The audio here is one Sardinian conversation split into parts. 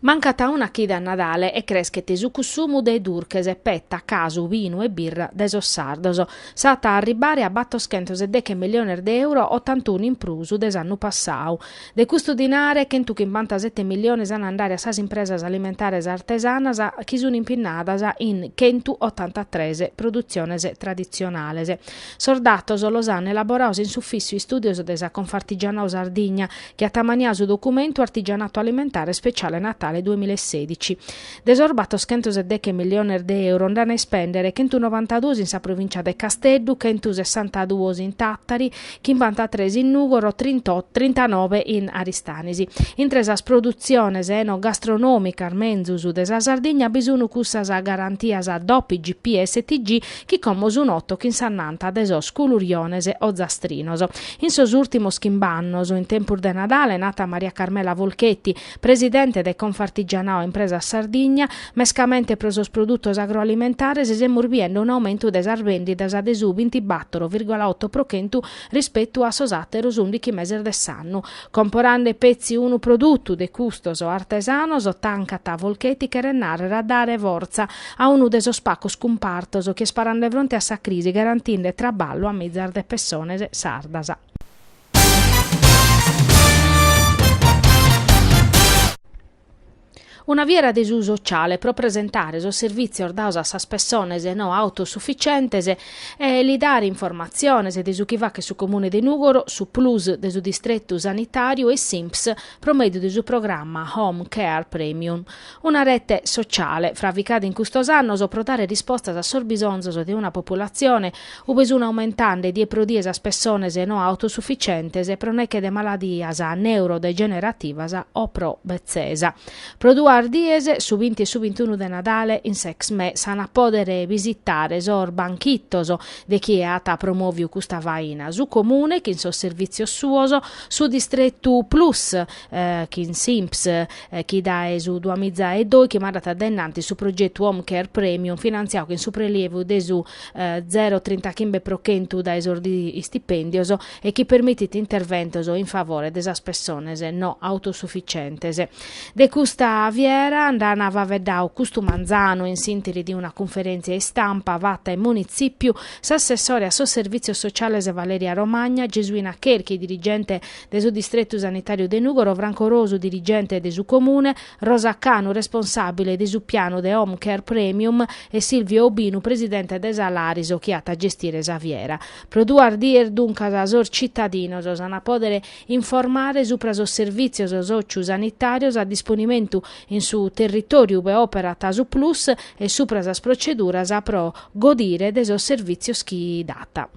Mancat a una chida a Nadale e creschet su cussumu de durches, petta, casu, binu e birra de sos sardos. S'at a arribbare a battoschentos e deche milliones de euro, otantunu in prus de s'annu passau. De custu dinare, chentu chimpantasete milliones an a andare a sas impresas alimentares artesanas chi sun impinnadas in chentu otantatres produtziones traditzionales. Sos datos los an elaboraos in s'Ufissu Istùdios de sa Confartigianao Sardigna, chi at ammaniau su documentu Artigianato alimentare speciale Natale duemila e sedici. De sos battoschentos e deche milliones de euro nd'an a ispèndere chentunobantaduos in sa provìncia de Casteddu, chentusessantaduos in Tàtari, chimbantatres in Nùgoro, trintanove in Aristanis. Intre sas produtziones enogastronòmicas menzus de sa Sardigna bi sun cussas garantias DOP, IGP e STG chi como sun otto chin s'annanta de sos culuriones ozastrinos. In sos ùrtimos chimb'annos, in tempus de Nadale, nat Maria Carmela Folchetti, presidente de Confartigianao Impresas Sardigna, mescamente pro sos produtos agroalimentares semus biende un'aumentu de sas bèndidas de su bintibattoro virgola otto pro chentu rispetu a sos àteros ùndichi meses de s'annu, Comporande petzi unu produtu de custos artesanos tancat Folchetti cheret nàrrere a dare fortza a unu de sos pacos cumpartos chi est parende fronte a sa crisi garantinde traballu a mizas de pessones sardas. Una fiera de su sociale pro presentare sos servìtzios daos a sas pessones no autosufficientes e li dare informatziones de su chi fachet su Comune de Nùgoro, su Plus de su Distretu Sanitàriu e s'Inps pro mèdiu de su programma Home Care Premium. Una rete sociale fravicada in custos annos pro dare rispostas a sos bisonzos de una populatzione ube sun aumentande die pro die sas pessones no autosufficientes pro neche de maladias neurodegenerativas o pro betzesa. Pro duas dies, su binti e su bintunu de Nadale, in s'Exmé s'an a pòdere bisitare sos banchitos de chie at promòviu custa faina, su Comune chin sos servìtzios suos, su Distretu Plus chin s'Inps chi dae su duamiza e dòichi mandat dainnanti su progetu Home Care Premium finantziau chin su prelievu de su zero trintachimbe pro chentu dae sos istipèndios e chi permitit interventos in favore de sas pessones no autosufficientes. De custa fiera nd'an faveddau custu manzanu in s'interi de una cunferèntzia istampa fata in Munitzìpiu s'assessore a sos Servìtzios Sociales Valeria Romagna, Gesuina Cherchi dirigente de su Distretu Sanitàriu de Nùgoro, Franco Rosu dirigente de su Comune, Rosa Canu responsàbile de su pianu de Home Care Premium e Silvio Obinu presidente de Salaris chi at a gestire sa fiera. Pro duas dies duncas sos tzitadinos s'an a pòdere informare supra sos servìtzios sòciu-sanitàrios a disponimentu in su territòriu ube òperat su Plus e supra sas proceduras pro godire de sos servìtzios chi dat.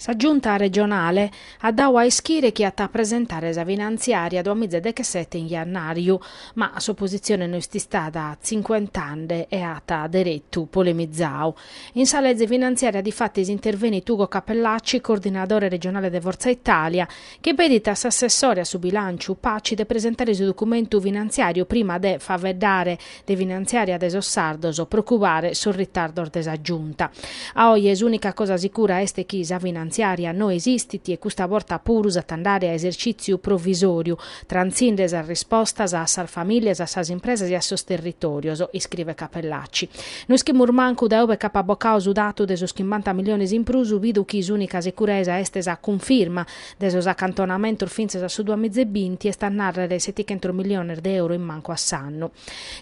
Sa Giunta regionale at dadu a ischire chi at a presentare sa finantziària duamiza deghessete in jannàriu, ma s'opositzione no est istada cincuentande e at deretu polemizadu. In sa lege finantziària difatis intervenit Ugo Cappellacci, coordinadore regionale de Fortza Italia, Chi pedit a s'assessore a su bilànciu Paci de presentare su documentu finantziàriu prima de faeddare de finantziària de sos sardos pro cubare sos ritardos de sa Giunta. A oje s'ùnica cosa sicura est chi sa finantziària no esistit e custa borta puru s'at a andare a esercìtziu provisòriu, trantzinde sas rispostas a sas famìlias, a sas impresas e a sos territòrios, iscrivet Cappellacci. No ischimus mancu dae ue ch'apat bocadu su datu de sos chimbanta miliones in prus, bidu chi s'ùnica sicuresa est sa cunfirma de sos acantonamentos fintzas a su duamiza e binti, est a nàrrere setichentos miliones de euro in mancu a s'annu.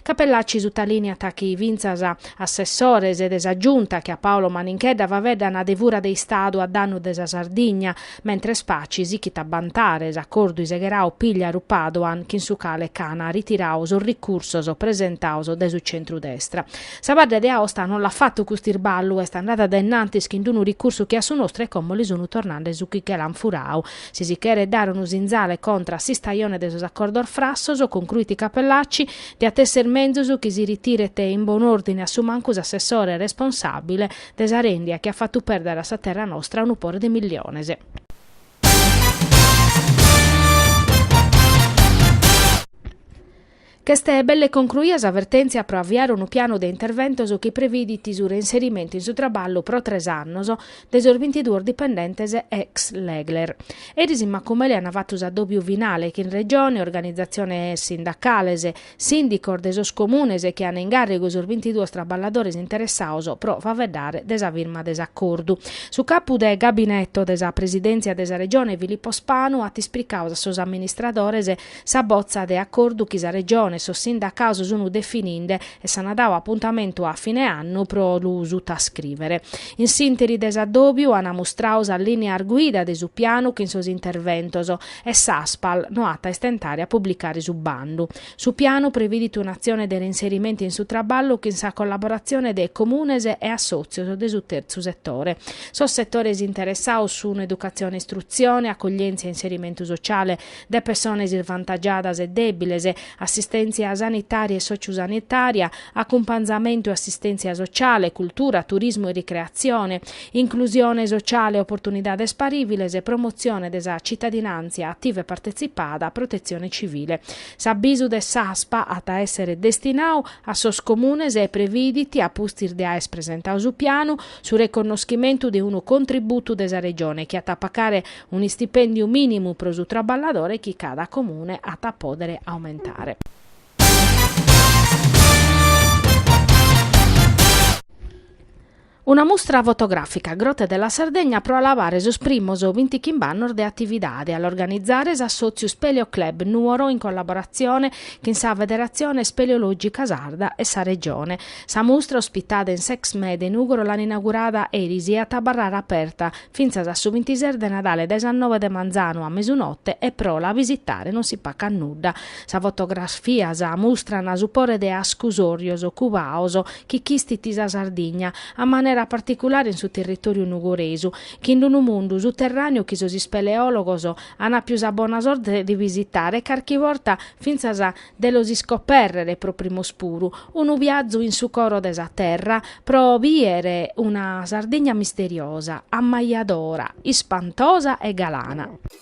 Cappellacci sutalìniat chi fintzas assessores de sa Giunta che a Paolo Maninchedda faeddan de una fura de Istadu a dannu de sa Sardigna, Mentres Paci sichit a bantare s'acordu isegherau Pigliaru Padoan chin su cale ch'ana ritirau sos ricursos presentados dae su centrudestra. Sa Badda de Aosta non l'at fatu cust'isballu, est andada dae innantis chin d-unu ricursu che a su nostru e como li sunu tornande su chi che l'an furau. Si si cheret dare unu sinzale contra a s'istajone de sos acordos frassos, concruit Cappellacci, diat esser menzus chi si ritiret in bonu ordine a su mancu s'assessore responsabile, De sa rèndia chi at fatu pèrdere a sa terra nostra unu pore de milliones. Ch'est belle concruia sa vertèntzia pro aviare unu pianu de interventos chi previdit su reinserimentu in su traballu pro tres annos de sos bintiduos dipendentes ex Legler. Eris in Macumele an fatu s'adòbiu finale chin Regione, organizatziones sindacales, Sìndicos de sos Comunes chi an in gàrrigu sos bintiduos traballadores interessados pro faeddare de sa firma de s'acordu. Su capu de gabineto de sa Presidèntzia de sa Regione Filippo Spanu at ispricados a sos amministradores sa botza de acordu chi sa Regione e sos sindacados sun defininde e s'an dadu apuntamentu a fine annu pro lu sutascrìvere. In s'ìnteri de s'addòbiu an mustradu sas lìneas guida de su pianu chin sos interventos e s'Aspal no at a istentare a publicare su bandu. Su pianu previdit un'atzione de reinserimentu in su traballu chin sa collaboratzione de comunes e assòtzios de su tertzu setore. Sos setores interessados sun educatzione e istrutzione, acoglièntzia e inserimentu sociale de pessones isvantagiadas e dèbiles, assistèntzia sanitària e sòciu-sanitària, acumpanzamentu e assistèntzia sociale, cultura, turismu e ricreatzione, Inclusione sociale e oportunidades parìviles, promotzione de sa tzitadinàntzia ativa e partetzipada, protetzione tzivile. S'abisu de s'Aspal at a èssere destinadu a sos Comunes e previdit, a pustis de aer presentadu su pianu, su reconnoschimentu de unu contributu de sa Regione chi at a pagare un'istipèndiu mìnimu pro su traballadore chi cada Comune at a pòdere aumentare. Una mustra fotogràfica, Grotte della Sardegna pro alabare sos primos bintichimb'annos de atividade, a l'organizare s'assòtziu Speleo Club Nuoro in collaboratzione chin sa Federatzione Speleològica Sarda e sa Regione. Sa mustra, ospitada in s'Exmè de Nùgoro l'an inaugurada eris e at a abarrare aperta fintzas a su bintises de Nadale dae sas noe de manzanu a mesunote e pro la visitare non si pacat nudda. Sas fotografias mustran su pore de ascusòrios cubados chi chistit sa Sardigna, a manera particulare in su territòriu nugoresu, chin unu mundu suterràneu chi sos ispeleòlogos an àpiu sa bona sorte de visitare e carchi borta fintzas de los iscopèrrere pro primos puru, unu biazu in su coro de sa terra pro bìere una Sardigna misteriosa, ammajadora, ispantosa e galana.